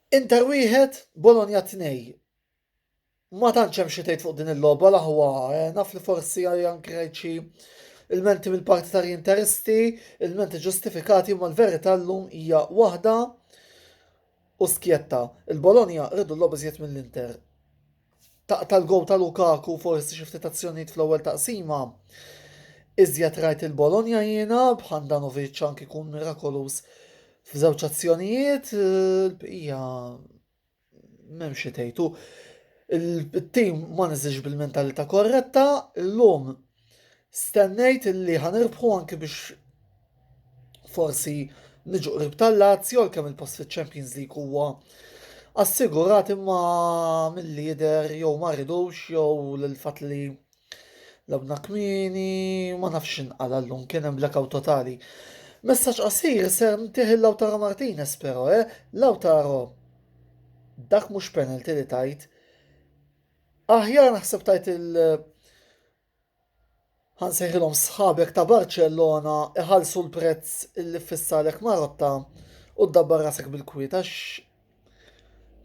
Inter wieħed, Bologna tnej. Ma tantx hemm xi tgħid fuq din il-logħba l-aħwa eh, naf li forsi għaljan kreċi il-menti mill-partitarji interisti, il-menti ġustifikati ma l-verità llum hija waħda u skjetta. Il-Bologna rridu l-logħba żjed mill-Inter. taqta' l-gowl ta' Lukaku forsi xi ftit azzjonijiet fl-ewwel taqsima. Iżjed rajt il-Bologna jiena b'Handanovic anki kun mirakoluż f'żewġ azzjonijiet, l-bqija m'hemm xi tgħidu. Il-tim ma niżilx bil-mentalità korretta, illum Stennejt li ħa nirbħu anki biex forsi niġu qrib tal-Lazio għal kemm il-post fiċ-Champions League huwa assigurat imma mill-li jidher jew ma ridux jew l-fatt li labna kmini ma nafx inqala llum kien hemm blackout totali. Messaġġ qasir ser ntih il-Lautaro Martinez però, eh? Lautaro dak mhux penalty li tajt Aħjar naħseb tajt il- ħansejħilhom sħabek ta' Barcellona iħallsu l-prezz illi ffissarek Marotta u ddabbar rasek bil-kwiet għax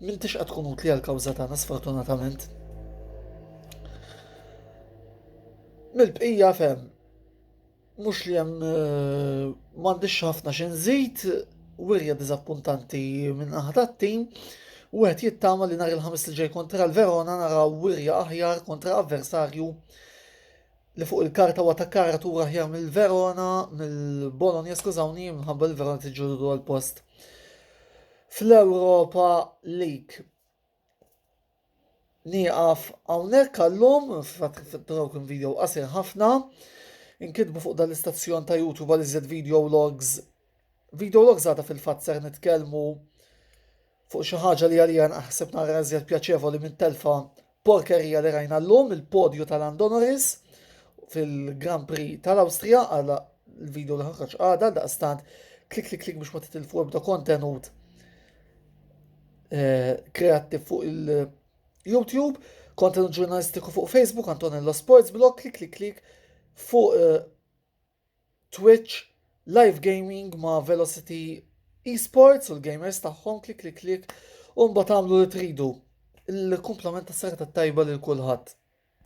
m'intix qed tkun utli għall-kawża tagħna sfortunatament. Mill-bqija fem, Mhux li hemm m'għandix ħafna xi nżid, wirja diżappuntanti minn naħa tat-tim, u wieħed jittama li nhar il-ħamis li ġej kontra l-Verona naraw wirja aħjar kontra avversarju li fuq il-karta huwa ta' karatura aħjar mill-Verona, mill-Bologna, skużawni, minħabba l-Verona tiġġudu għal post fl-Europa League. Nieqaf hawnhekk għallum, broken video qasir ħafna. Inkitbu fuq dan l-istazzjon ta' YouTube għal iżjed video logs. Video logs għadha fil-fatt ser nitkellmu fuq xi ħaġa li għalija naħseb nara iżjed pjaċevoli minn telfa porkerija li rajna llum il-podju tal-Andonoris fil-Grand Prix tal-Awstrija għal il-video li ħarġ għada daqstant klik klik klik biex ma titilfu ebda kontenut eh, kreattiv fuq il-YouTube, kontenut ġurnalistiku fuq Facebook, Antonello Sports Blog, klik klik klik fuq eh, Twitch, live gaming ma' Velocity Esports u l-gamers tagħhom, klik klik klik, u mbagħad tagħmlu li tridu. Il-kumplament tas-serata tajba lil kulħadd.